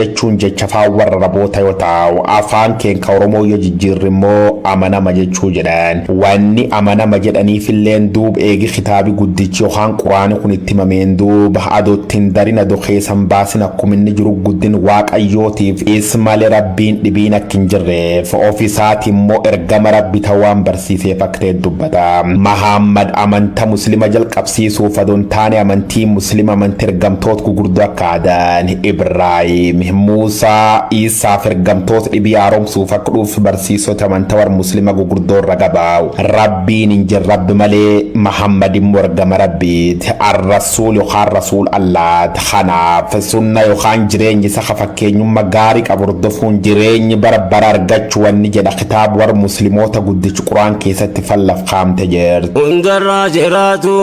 jechuun jecha faan warraraboota yoo ta'u afaan keen ka oromoo yoo jijjiirri immoo amanama jechuu jedhan wanni amanama jedhaniif illeen duub eegi kitaabi guddichi yokaan quraani kun itti himameen duuba ado ittin darin ado keesan baasin akkum inni jiru guddin waaqayyootiif is male rabbiin dhibiin akk hin jirreef of isaati immoo ergama rabbi ta waan barsiiseef akk ta'e dubbata mahaammad amanta muslima jalqabsiisuuf ado hin taane amantii muslima amanti ergamtoot gugurdoo akka adan Ibraahim, Muusaa, Iisaa fi ergamtoota dhibii haaromsuuf akka dhuuf barsiisota amanta war Muslima gugurdoo irra gabaa'u. Rabbiin hin jir Rabbi malee, Mahammad immoo ergama Rabbiit, Ar-Rasuul yokaan Rasuul Allaat. Kanaaf, sunna yokaan jireenya isa ka fakkeenyumma gaari qabu hordofuun jireeny bara bara argachu wanni jedha kitaab war Muslimoota guddich Qur'aan keessatti fallaf kaamte jirt. Hundarraa jiraatu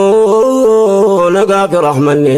nagaa fi rahmanni.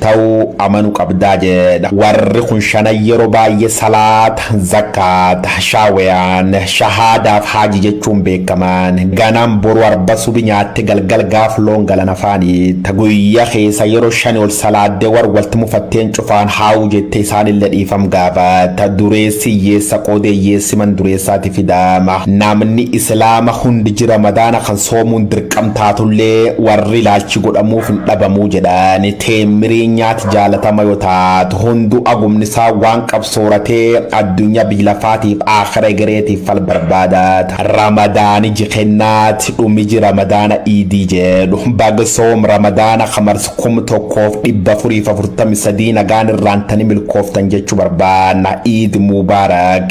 ta'u amanu qabdaa jedha. Warri kun shanan yeroo baay'ee salaata, zakkaata, shaaweyaan, shahaadaaf haaji jechuun beekaman. Ganam boru arba subi nyaatte galgal gaaf loon galan afaaniitta. Guyya keessa yeroo shani ol salaadde war walti mufatteen cufaan haawu jette isaanille dhiifam gaafatta. Dureessi hiyyeessa qoode hiyyeessi man dureessaati fidaama. Namni islaama hundi ji ramadaana kan Soomuun dirqam taatullee warri ilaalchi godhamuuf hin dhabamuu jedhan teemmirii nyaati jaalatama yoo taatu hunduu agumni isaa waan qab sooratee addunyaa biy lafaatiif aakhira egereetiif fal barbaadaat. Ramadaan iji kennaat dhum iji ramadaana iidii jedhu bag soom ramadaana kamars 1443 nagaan irraantani milkooftan jechu barbaanna iid mubarak.